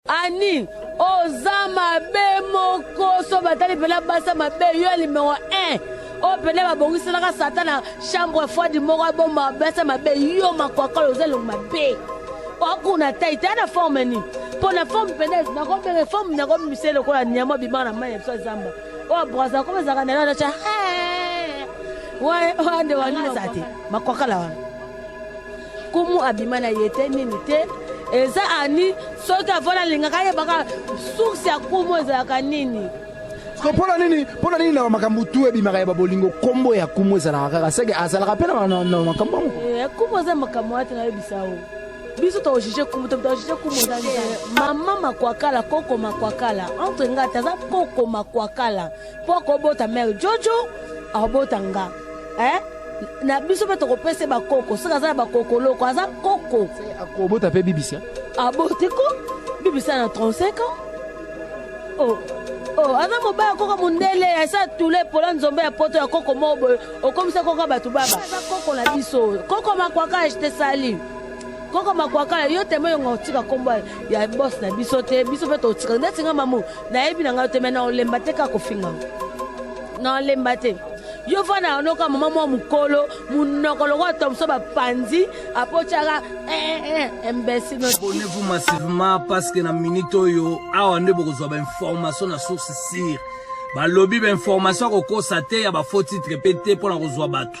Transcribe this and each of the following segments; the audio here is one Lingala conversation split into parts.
Annie oza mabe moko so batali mpena basa mabe yo ya limero 1 oyo mpena babongiselaka satan na chambre froide moko abomba basa mabe yo makwakala oza elongo mabe okuna tai te na forme nini mpo na forme mpena nakobenga forme nakomisa lokola nyama obimaka na mai ya biso ya zamba oyo brasa koma ezalaka na elana tya wande wanini eza te makwakala wana kumu abima na ye te nini te eza ani soki avola alingaka ayebaka source ya kumu ezalaka nini mpona nini mpona nini na makambo tu ebimaka ya babolingo nkombo ya kumu ezalaka kaka seke azalaka mpe na makambo yango eh, kumu eza makambo wana te nayebisa o biso tojuge kumu tojuge kumu eza mama makwakala koko makwakala entre ngati aza koko makwakala mpo akobota mere jojo akobota nga eh? na biso mpe tokopesa bakoko soki aza na bakokoloko aza koko akobota mpe bibisa aboti ko bibisa na 35 ans oh. Oh, aza mobaya koko mondele asa tule pola nzombe ya poto ya koko moko boye okomisa koko bato baba aza koko na biso koko makwaka te sali koko makwakala yo temo yonga otika nkombo ya bos na biso te biso mpe totika ndeti nga mamu nayebi na ngai te me naolemba te kaka kofinga naolemba te yo fana yanoka mama mwa mokolo monoko lokola tomso bapanzi apotyaka eh, eh, eh, imbesileabonnez-vous massivement parce que na minute oyo awa nde bokozwa bainformation na source sire balobi bainformation akokosa te ya bafaux titre mpe te mpo na kozwa bato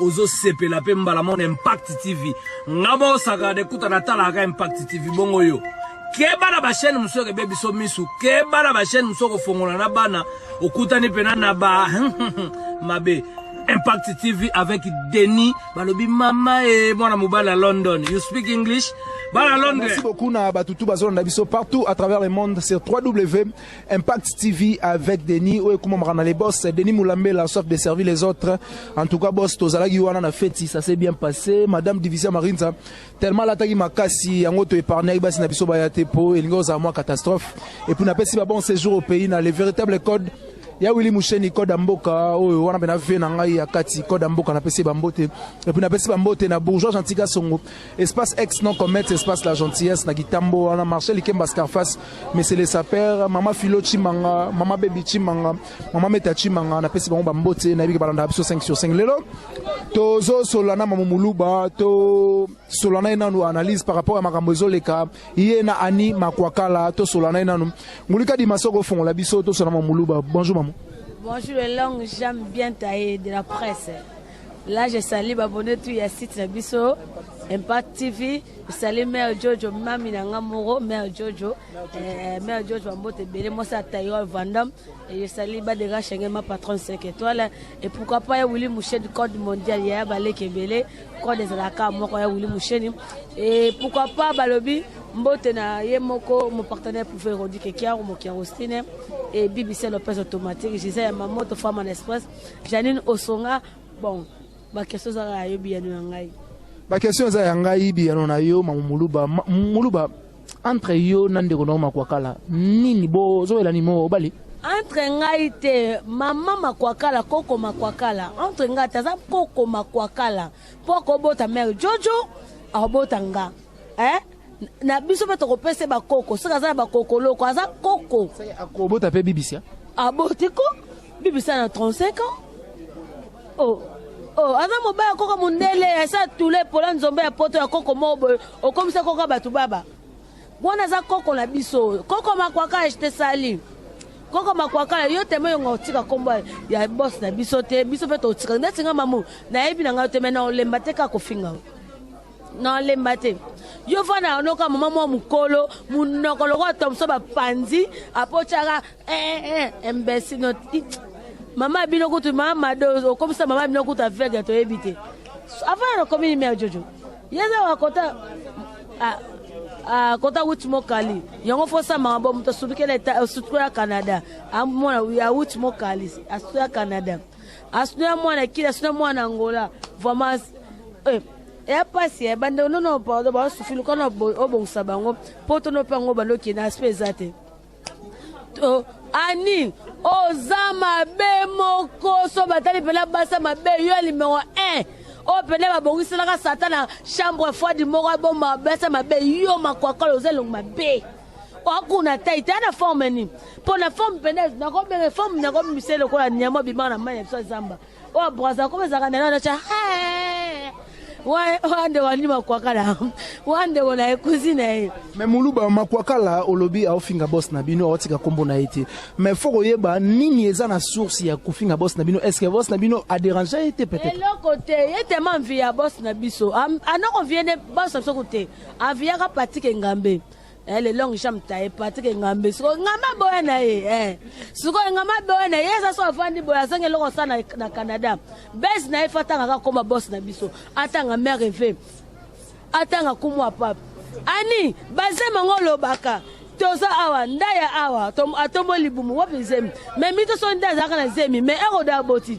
ozo sepela pe mbala mona impact tv nga moko sakala de kuta natalaka impact tv bongo yo keba na bachaine mosusu eke be biso misu keba na bachaine mosusu okofongola na bana okutani mpena na ba mabe impact tv avec denis balobi mama e mwana mobali ya london you speak english bana london merci beaucoup na batutu bazolanda biso partout à travers le monde sur 3w Impact TV avec Denis oyo ekumamaka na les boss Denis Moulambela soif de servir les autres en tout cas boss tozalaki wana na feti ça s'est bien passé madame Division Marinza tellement alataki makasi yango to épargnaki basi na biso baya te po elingi ozala mwa catastrophe et puis napesi ba bon séjour au pays na les véritables codes ya wili musheni koda mboka oyo wana mpe na vie na ngai ya kati koda mboka napesi bambote epuis napesi bambote na bourgeois gentika songo Espace ex non comète espace la gentillesse na kitambo wana marché likemba scarface monsieur le sapeur mama philo chimanga mama baby chimanga mama meta chimanga na pesi bango ba mbote na yebiki balanda biso 5 sur 5 lelo tozo solana mama muluba to solana enanu analyse par rapport à makambo ezoleka ye na ani makwakala to solana enanu ngulika di masoko fongola biso to solana mama muluba bonjour mamu bonjour elongo j'aime bien taille de la presse Là je salue babone tout ya site na biso Impact TV esali mère Jojo mami na nga moko mère Jojo eh, mère Jojo bambote ebele mwasi ya Taïwan Vandam esali badega shenge ma patronne 5 étoiles et pourquoi pas ya Willy Moucheni code mondial ya baleki ebele code ezalaka moko ya Willy Moucheni et pourquoi pas balobi mbote na ye moko mopartenaire pouve erodi kekiaro mokiarostine e bibisa lopez automatique gisele ya mamoto femme en express Janine Osonga, bon, ba question za ya yo biyano ya ngai. Ba question za ya ngai biyano na yo mamu Muluba. Ma, Muluba entre yo na ndeko na yo Makwakala nini bo zo elani mo obali? entre ngai te mama makwakala koko makwakala entre ngai te aza koko makwakala mpo akobota mare jojo akobota nga eh? na biso mpe tokopesa ba koko soki aza na bakoko loko aza koko akobota mpe bibisa aboti ko bibisa na 35 ans oh. Oh, aza mobali ya koko mondele asa tule epola nzombe ya poto ya koko moko boye okomisa koko bato baba wana aza koko na biso oyo koko makwaka ete sali koko makwaka yo teme yonga otika nkombo ya bos na biso te biso mpe totika ndeti nga mamu nayebi na ngai te me na olemba te kaka kofinga na lemba te yo fana yanoka mama mwa mokolo monoko lokola tomso bapanzi apotyaka eh, eh, eh, imbecile mama bino kutu mama mado okomisa mama bino kutu aveugle toyebi te avant ya nakomi nime ya jojo yeza wakota ah, ah, kota wuti mokali yango fosamaka bo moto asukela canada amona awuti mokali asukela canada asuna ya mwana kili asuna mwana angola vraiment eh, eya mpasi eh, bandeko nono pardon basufi luka na obongisa bango mpo tono mpe yango bando okende aspe eza te ani oza mabe moko so batali mpena basa mabe yo ya limero 1 oyo mpena babongiselaka satana chambre froide moko aboma basa mabe yo makwakala oza elongo mabe okuna te ita na forme nini mpo na forme mpene nakobenga forme nakobimise lokola nyama obima na mai ya biso ya zamba oyo braza koma ezalaka na nanaca wande wandi makwakala wande wona ekuzi na ye me muluba makwakala olobi aofinga bos na bino aotika kombo na ye te me fo koyeba nini eza na source ya kofinga bos na bino est ce que bos na bino aderange ye te peut-être eloko te ye tema mvi ya bos na biso anoko vie ne bos na biso ko te aviyaka patike ngambe Eh, le long jam taye patrik engambe sikoyo engambe aboya na ye eh. sikoyo engambe aboya na ye eza so afandi boye azangi eloko sa na, na canada base na ye fa atanga kaka koma bos na biso atanga mare ve atanga kumu ya pape ani bazema yango olobaka toza awa ndaya awa atombo libumu wapi zemi me mito so nde azalaka na zemi me eroda aboti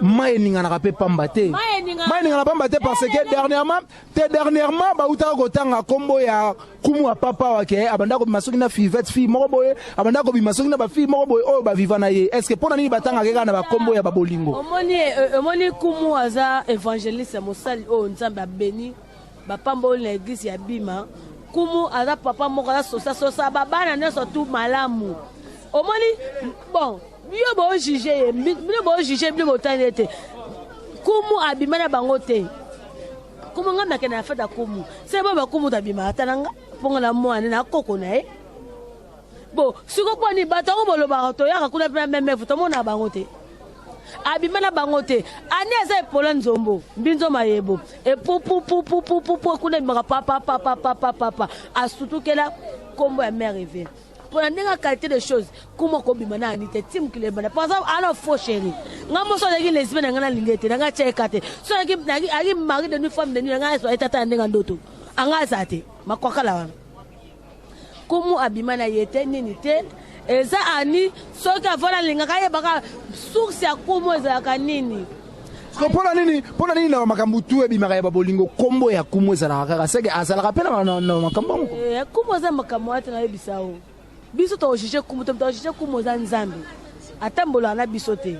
mai eninganaka mpe pamba te mai eningana pamba te parce que dernièrement te dernièrement bautaka kotanga nkombo ya kumu ya papa wake eh, abanda kobima soki na fivete fille moko boye abanda kobima soki na bafille moko boye oyo baviva na ye est ce que mpo na nini batangaka kaka na bakombo ya babolingo omoni eh, eh, kumu aza evangeliste mosali oyo nzambe abeni bapamboli na eglise ya bima kumu aza papa moko aza sosa sosa babana nyonso tu malamu omoni bon bino bojuge ye bino bojuge bino botali ye te kumu abima na bango te kumu ngai nakenda na fete ya kumu se bo bakumu tabima ata na nga mpo nga na mwana na koko na ye bo siko mpo nini bato yango bolobaka toyaka kuna mpe na memefu tomona bango te abima na bango te ani aza epola nzombo mbinzo mayebo epupupupupupu kuna ebimaka papapapapapapa asutukela nkombo ya mare eve mpo na ndenge qualité de choses kuma kobima na ani te ti mokili ebanda mpo aza ana faux chéri ngai moso azalaki lesbi na ngai nalingi ete na ngai atya eka te so ayaki mari de nuit femme de nuit na ngai azwa etata ya ndenge ya ndoto anga aza te makwakala wana kumu abima na ye te nini te eza ani soki avona alingaka ayebaka source ya kumu ezalaka nini mpona nini mpona nini na makambo tu ebimaka ya babolingo nkombo ya kumu ezalaka kaka seke azalaka mpe na makambo yango eh, kumu eza makambo wana te nayebisa o biso tojuge kumu te tojuge kumu oza nzambe atambolaka na biso te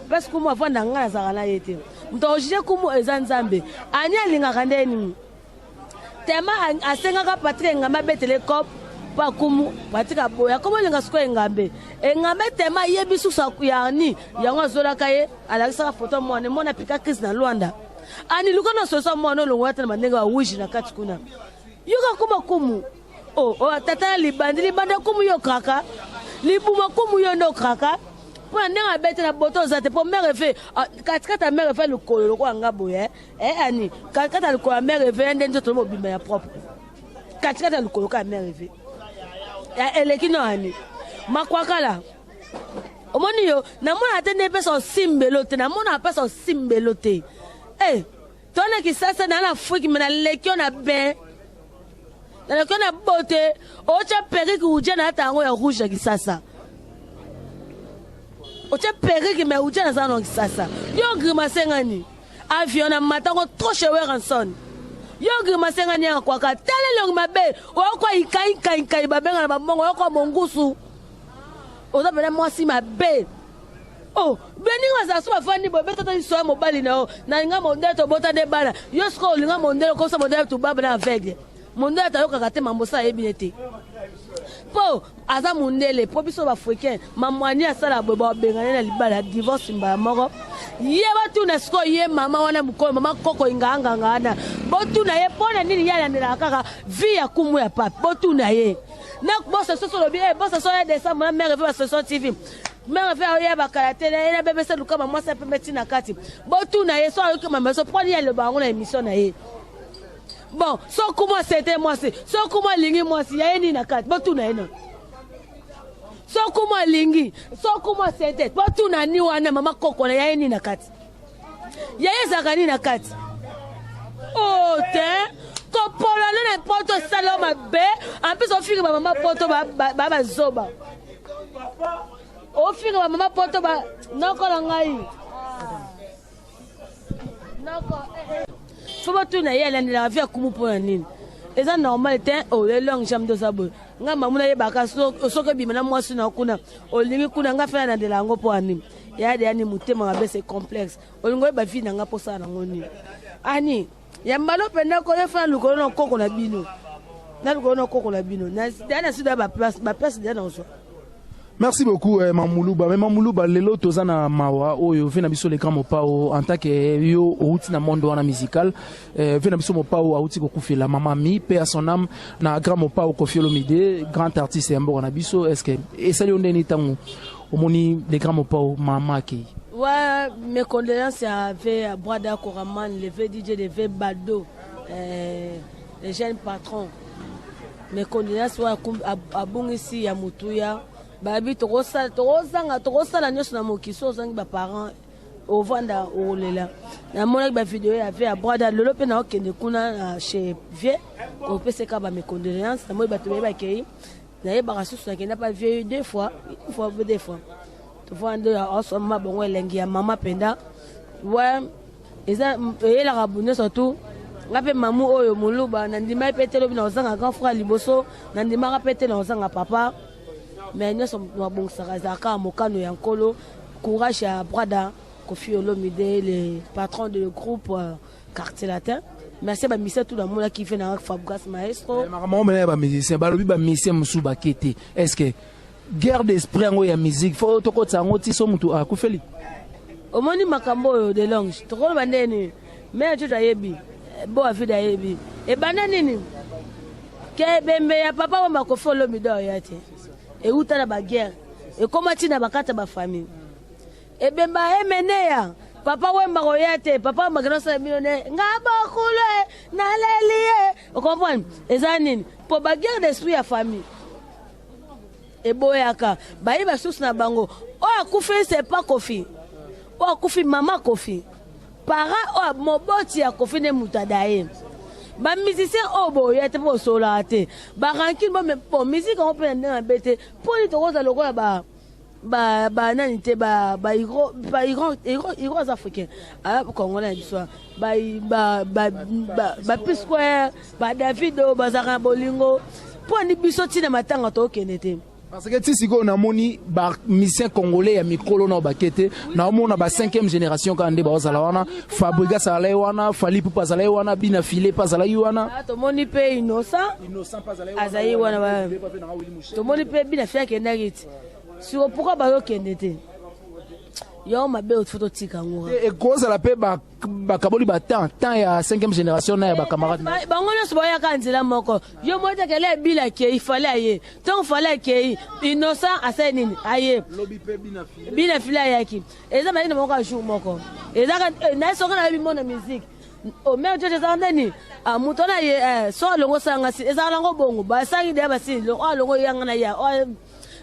place kumu avanda ngai nazalaka na ye te moto akojuge kumu eza nzambe ani alingaka nde nini Tema asengaka Patrick Engambe abetela ye cop mpo akumu Patrick aboya akomolinga sikoyo Engambe Engambe Tema ayebi susu akuyarni yango azolaka ye alakisaka foto mwana mwana apika crise na Luanda ani luka na sosa mwana olongola te na bandenge bawiji na kati kuna yoka kuma kumu o oh, oh, tata na libandi libandi akumu yo kraka libuma kumu yo nde okraka mpo na ndenge abeti na boto oza te mpo mere fe ah, katikati ya mere fe lokolo lokola nga boye eh. Eh ani, katikati ya likolo ya mère Eve nde nzoto mobimba ya propre. Katikati ya likolo ka mère Eve. Ya eleki no ani. Makwakala. Omoni yo, namona ate nde pesa osimbelo te, namona pesa osimbelo te. Eh, tona kisasa na na Afrique mais na lekio na ben. Na lekio na bote, ocha periki uja na ata yango ya rouge ya kisasa. Ocha periki mais uja na zano ya kisasa. Yo grimace ngani? Avion na mata ngo trop chez Werrason. Yo grimace nga nianga kwaka tala elongi mabe oyokwa ikai kai kai babenga na bambongo oyokwa mongusu oza pena mwasi mabe oh beninga bazala so bafandi boye betata liso ya mobali na yo nalinga mondele tobota nde bana yo sikoyo olinga mondele okosa mondele tubaba na aveugle Mondele tayokaka te mambosa ayebi ne te po aza mondele po biso baafricain mamwani asala boye babengane na libala ya divorce mbala moko ye batuna sikoyo ye mama wana mokolo mama koko inganganga wana botuna ye mpo na nini ye alandelaka kaka vi ya kumu ya pape botuna ye na bosa soso olobi e bosa so ya desembre na mare vi basosio tv meme mpe oyeba kala te na ye na bebese lukama mwasi ya pembe ntina kati botuna ye so ayoki mama so mpo nini aloba yango na emission na ye Bon, soki mwasi ete mwasi, soki mwa alingi mwasi, ya ye nini na kati? Botuna ye nani? Soki mwa alingi, soki mwasi ete, botuna ni wana mama kokola ya ye nini na kati? Ya ye ezalaka nini na kati? Oh, te kopolana na poto esala mabe, en plus ofinga ba mama poto ba ba, ba, ba zoba. Ofinga ba mama poto ba nokola ngai. fo batuna ye alandela avi akumu mpo na nini eza normal te oye longue jambe toza boye ngai mamu nayebaka soki ebima na mwasi na kuna olingi kuna ngai fe nalandela yango mpo ya nini yade yani motema mabe se complexe olingi oyeba vi na ngai mposala nango nini ani ya mbalo mpenza ko yo fana lukolo na koko na bino na lukolo na koko na bino da na sida baplace baplace da na ozwa merci beaucoup eh, mamuluba me mamuluba lelo toza na mawa oyo ve na biso leka mopao en tant que eh, yo outi na monde wana musical eh, ve na biso mopao auti kokufela mama mi pe à son âme na grand mopao kofiolomide grand artiste ya mboka na biso est ce que esali yo ndeni ntango omoni le grand mopao mama akei wa mes condoléances ya ve ya brada koraman le ve dj le ve bado eh, le jeune patron mes condoléances wa abungisi ya motuya bayebi tokosala tokozanga tokosala nyonso na mokili so ozangi baparent ovanda okolela namonaki bavideo ya vie ya brada lelo mpe naokende kuna na chez vie kopeseka bamecondoléance namoni bato baye bakei nayebaka susu nakenda pa vieux deux fois une fois deux fois tofana nde asomba bongo elengi ya mama mpenza we eza eyelaka nyonso tu nga mpe mamu oyo moluba nandimaki mpe te lobi na kozanga grand frère liboso nandimaka mpe te na kozanga papa mais nyonso mabongisaka ezalaka mokano ya nkolo courage ya brada kofi olomide le patron de le groupe euh, Quartier latin. Merci ba musiciens tout namona ki vena Fabgas maestro. Eh, makambo mena ya ba musiciens balobi ba musiciens mosusu bakete. Est-ce que guerre d'esprit yango ya musique fo tokotisa yango ti so motu akufeli? Omoni makambo oyo de longe tokoloba nde nini mea jojo ayebi eh, bo avide ayebi ebanda nini ke ebembe ya papa wa makofi olomido ya te euta na baguerre ekóma ntina bakata bafamille Ebemba emeneya papa wemba koya te papa wemba kende osala bino ne nga bokulu e naleli ye okomprendre eza nini mpo baguerre d'esprit ya famille eboyaka baye basusu na bango oyo akufi c'est pas kofi oyo akufi mama kofi para oyo moboti ya kofi nde moto adaye bamusicien oyo oh, boya te mpo bosolaka te barankine bompo miziki yango mpe na ndenge mabe te mpo nini tokozala lokola ba ba ba nani te ba ba iro ba iro iro iro aza africain ah congolais biso ba ba ba ba, ba P square ba Davido bazaka bolingo mpo ni biso ntina matanga tokende te parce que ti sikoyo namoni bamisien congolais ya mikolo nao bake te naomona ba 5e génération kaka nde baozala wana fabrigas azalaki wana fali pupa azalaki wana bina file mpe azalaki wana ah, tomoni mpe innocent azalaki wana tomoni mpe bina file akendaki ti siko pourkoi bayokende te yo mabe otifo totika yango ekozala mpe bakaboli batemp temps ya 5e génération na ya bacamarade bango nyonso bayaka nzela moko yo moko tekele ebila akei fale aye ntango fale akei innocent asali nini aye bina file ayaki eza malina moko ya jour moko eza eh, naye soki nayebi mona musique o mère jojo ezalaka nde nini ah, moto wana ye eh, so alongo osalanga si ezalaka nango bongo basangi deya basi oyo ah, alongo yanga na ya ah,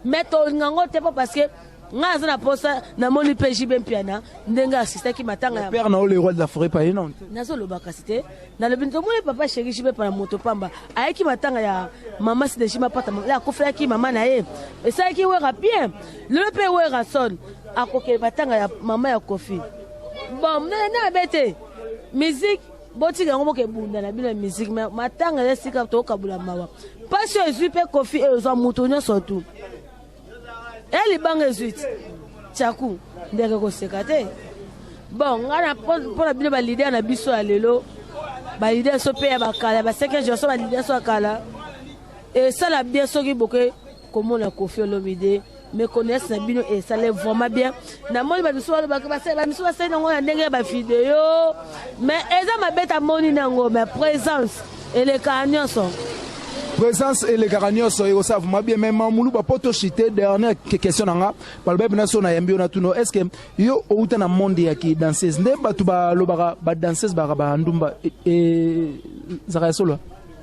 mais tolinga ngo te mpo parce que ngai aza na mposa namoni mpe jibe mpiana ndenge asistaki matanga ya père na yo le roi de la forêt paye non nazoloba kasi te nalobi tomoni papa sheri jibe pana moto pamba ayaki matanga ya mama sideji mapata akofelaki mama na ye esalaki wera bien lelo mpe werason akokele matanga ya mama ya kofi Bon, mdele na bete. Musique botika yango boke bunda na bino ya musique mais matanga ya sika tokabula mawa mpasi oyo ezwi mpe kofi oyo ezwa moto nyonso tu ya eh, libanga ezwi ti chaku ndeke koseka te bon ngai mpo na bino balider na biso ya lelo balider so mpe ya bakala ya baseke genso balider so ya kala esala bien soki boke kombo na kofi olomide meconnaissance na bino esale vraiment bien namoni bamisu balobaka bamisu basali nango na ndenge ya bavideo mais eza mabe tamoni nango mais présence elekaka nyonso présence elekaka nyonso ekosala vraimen bien mai mamuluba mpo toshite dernière question na nga balobai mpena so nayambi yo na tuno est ce que yo outa na monde ya ki danseuse nde bato balobaka badanseuse balaka bandumba ezaka e, ya solo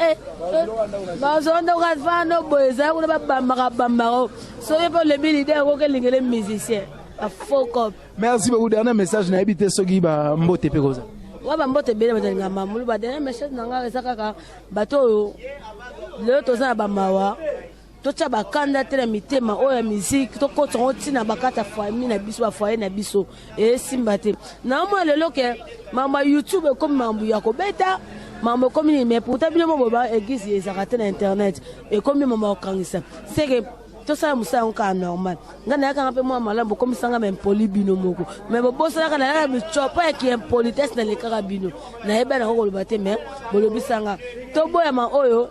Eh, eh, bazondoka fano boye ezali kuna babambaka bambaka soki mpe olebi lide yango kelingele musicien afokop merci beaucoup dernier message nayebi te soki bambote mpe koza wa bambote ebele bazalinga mamulu ba dernier message na ngai eza kaka bato oyo lelo toza na bamawa totia bakanda te na mitema oyo ya miziki tokota yango ntina bakata fami na biso bafoye na biso esimba te naomona lelo ke mambo ya youtube ekomi mambo ya kobeta mambo ekomi nini mai pourtant bino mo boba eglise ezalaka te na internet ekomi mambo ya kokangisa seke tosala mosala yango kaka normal ngai nayakanga mpe mwa malamu bokomisanga baimpoli bino moko mai bobosanaka nayaka bicopo ya kiimpolitesse nalekaka bino nayebani yango koloba te mai bolobisanga toboyama oyo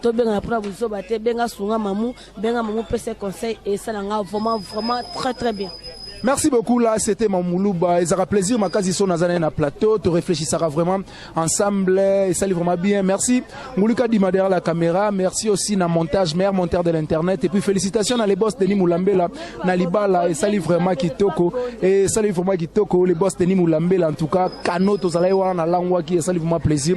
to benga na pona buzoba te benga sunga mamu benga mamu pese conseil et ça nga vraiment vraiment très très bien Merci beaucoup là, c'était Mamouluba. Et ça a plaisir, ma case ici, on a un plateau, tu réfléchissera vraiment ensemble, et ça vraiment bien. Merci. Mouluka Dima derrière la caméra, merci aussi na montage, meilleur monteur de l'internet. Et puis félicitations à les boss Denis Moulambela, na Libala, et ça vraiment Kitoko, et ça vraiment Kitoko, les boss Denis Moulambela, en tout cas, Kano, Tozalaïwa, na Langwaki, et ça vraiment plaisir.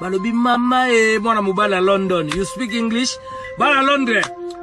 balobi mama e mwana mobali ya london you speak english bana londres